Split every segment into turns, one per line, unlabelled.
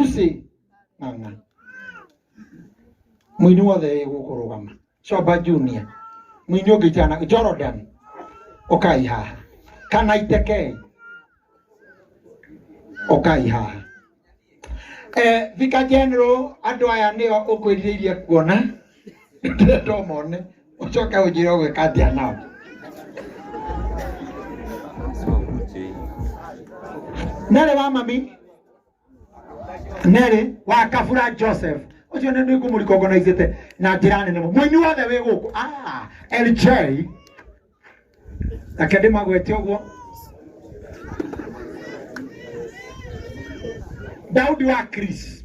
usi ng'ang'a mwini wothe wĩgũkũrũgama coba junior mwini ũngĩ jana jordan ũkai haha kana itekei ũkai haha eh, vika general andũ aya nĩo ũkwĩrirĩirie kuona ndĩretwo mone ũcoke ũnjĩre ũgwĩka atĩa nao nerĩ wa mami nerĩ wa kabura joseph ũcio nĩ nĩngũmũrikogonaicĩte na njĩra nene mũno. mũini wothe wĩ gũkũ Ah, lj reke ndĩmagwete ũguo daudi wa chris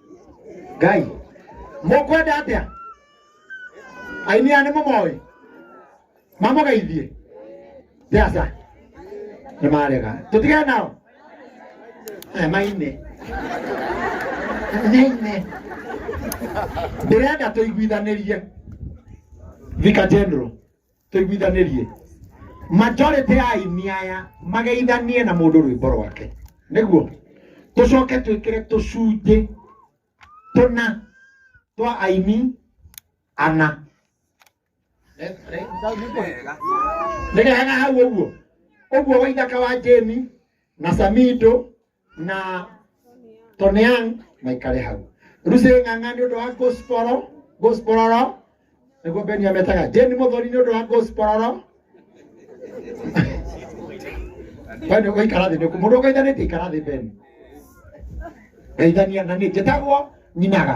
ngai mũkwenda atĩa aini aya nĩ mũmoĩ mamũgeithie theaca nĩ marega tũtige nao aya maine maine ndĩrenda tũiguithanĩrie thika general tuiguithanirie majority ya aini aya mageithanie na mundu rwimbo rwake niguo tucoke twikire tucunji tuna twa aini ana nigehega hau uguo uguo waithaka wa jemi na samido na toneang maikare hau ruce ng'ang'a nĩ ũndũ wa gosporo gospororo nĩguo beni ametaga jeni mũthoni nĩ ũndũ wa gospororo bani ũgũikara thĩ nĩku mũndũ ũgũithanĩtie ikara thĩ beni geithania na nĩ njĩtagwo nyinaga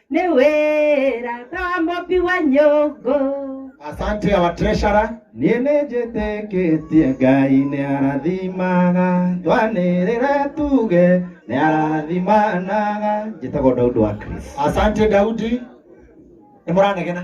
Ni wira ta mobi wa nyungu. Asante
our treasurer. niĩ nĩ
njĩtĩkĩtie ngai nĩ arathimaga twanĩrĩra tuge nĩ arathimanaga njĩtagwo daudi wa chris Asante Daudi.
Nĩ mũranegena.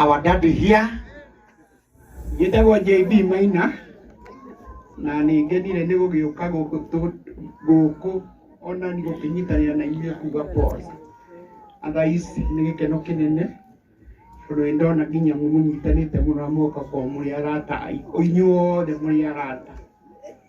our daddy here
njĩtagwo JB Maina na nĩ ngenire nĩ gũgĩũka gũkũ tũ- gũkũ ona nĩ gũkĩnyitanĩra na inyuĩ kuga pause athais nĩ gĩkeno kĩnene tondũ nĩ ndona nginya mũnyitanĩte mũno na muoka kwa mũrĩ arata aitũ- inyuothe mũrĩ arata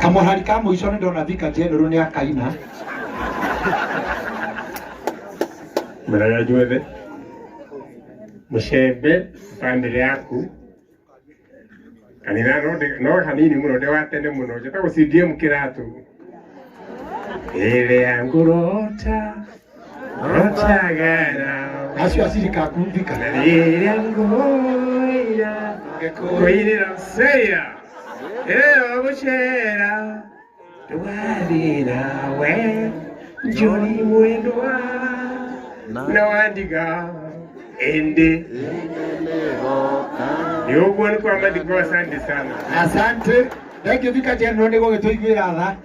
kamũhari ka mũico nĩ ndona thika general nĩ akaina
mĩraga njuothe mũcembe bamĩrĩ yaku kanitha no ndĩ- no hanini mũno ndĩ wa tene mũno njĩtagwo CDM kĩratũ ĩrĩa ngũrota acio aciri
kakumbika rĩrĩa
ngũira kũirĩra seya ĩyo gũcera ndũgathĩra we njori mwendwa na wandiga ĩndĩ nĩ ũguo nĩ kwa mathiko asante sana asante
thengiå thika njenwo nä gå gä tå iguä ra tha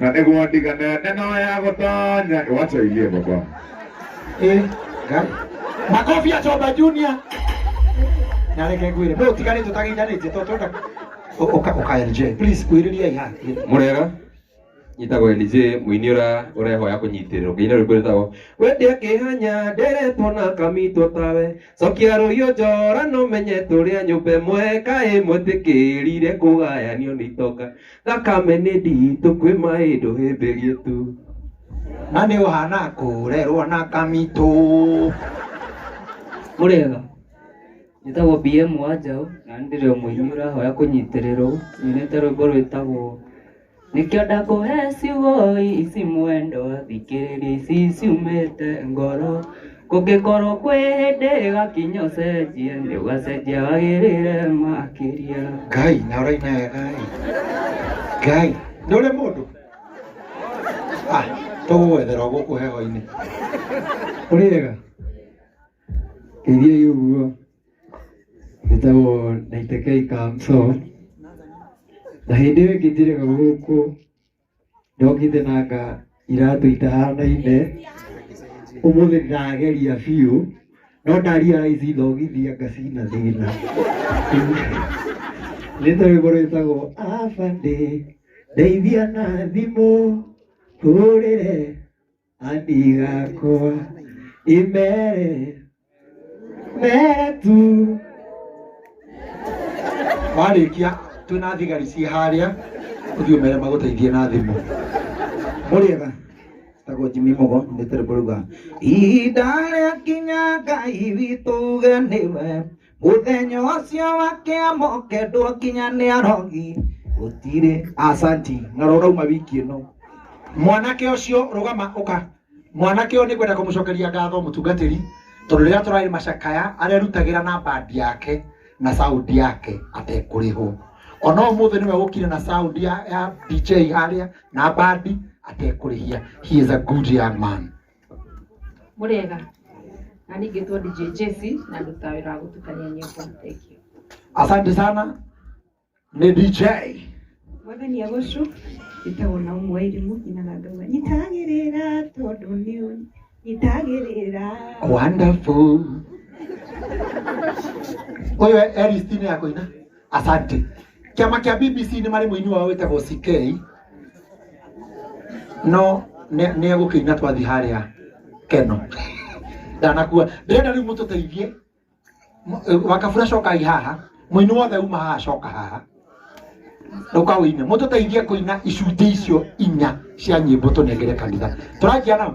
na nĩguo ndigane neno ya gũtanya wacha ilie baba Eh,
ngai. makobi acoba junior nareke ngwire no tigane tutageithanĩtie to twenda Ũ- ũka ũka lj please kwĩrĩriai ha murega
nyitagwo lj muini ura urehoya kunyitirwo nginya riu kwiritago wendia kihanya nderetwo na kamitwo tawe cokia ruio njora no menye turia nyumba imwe kaĩ mwitikirire kugayanio ni itonga Thakame nĩ nditũ kwĩ maĩ ndũhĩmbĩrie tu. Na nĩ
ũhana kũrerwo na kamitũ.
Mũrĩega, njĩtagwo BM wa njaũ na nĩ ndĩrĩ o mũini ũrahoya kũnyitĩrĩrwo nyinĩte rwĩmbo rwĩtagwo nĩkĩo ndakũhe ciugo ici mwendwa thikĩrĩria ici ciumĩte ngoro Kũngĩkorwo kwĩ hĩndĩ ĩgakinya ũcenjie, nĩ ũgacenjia wagĩrĩre makĩria. ngai na ũraina
wega ĩ ngai nĩ ũrĩ mũndũ Ah, tũgũgwethera o gũkũ heho-inĩ
ũrĩega ithiai ũguo ĩtagwo naitekei kamso na hĩndĩ ĩyo ĩngĩ njĩrĩga gũkũ Ndokite na nga iratũ itahanaine ũmũthĩ ndĩrageria biũ no ndaria raici ndogithia ngacina thĩna nĩ torĩmbo rwĩtagwo abande ndeithia na thimũ hũrĩre anigakwa imere mere tu
warĩkia twĩna thigari ciĩ harĩa ũthiĩ ũmere magũteithie na thimũ mũrĩega
tagwo jimi mũgo nĩtĩrĩ mũruga ihinda rĩa kinya ngai witũ ũgeniwe Mũthenya ũcio wa kĩamo kendwo nginya nĩ arogi gũtirĩ asanti na rũrauma wiki ĩno mwanake
ũcio rũgama ũka mwanake ũyũ nĩ kwenda kũmũcokeria ngatho mũtungatĩri tondũ rĩrĩa tũrarĩ macakaya arerutagĩra na bandi yake na sound yake atekũrĩhwo ona ũmũthĩ nĩwe ũkire na sound ya, ya DJ harĩa na bandi atekũrĩhia he is a good young man
Mũrĩega. Na niĩ ngĩtwo DJ Jesse na ndutaga wĩra wa gũtukania nyĩmbo. Thank you. Asante sana.
Ni DJ. Mwathani
agũcu ĩtagwo na ũmwe irimũ nyina na ndũma nyitagĩrĩra tondũ nĩ nyitagĩrĩra Wonderful.
Uyu Eristine ya kuina. asante kĩama kĩa bbc nĩ marĩ mũini wao wĩtagwo ck no nĩ nĩ egũkĩina twathi harĩa keno ndanakua ndĩrenda rĩu mũtũteithie Mũ- wakabura cokai haha mũini wothe uma haha coka haha rũka ũine mũtũteithie kũina icunjĩ icio inya cia nyĩmbo tũnengere kanitha tũranjia nao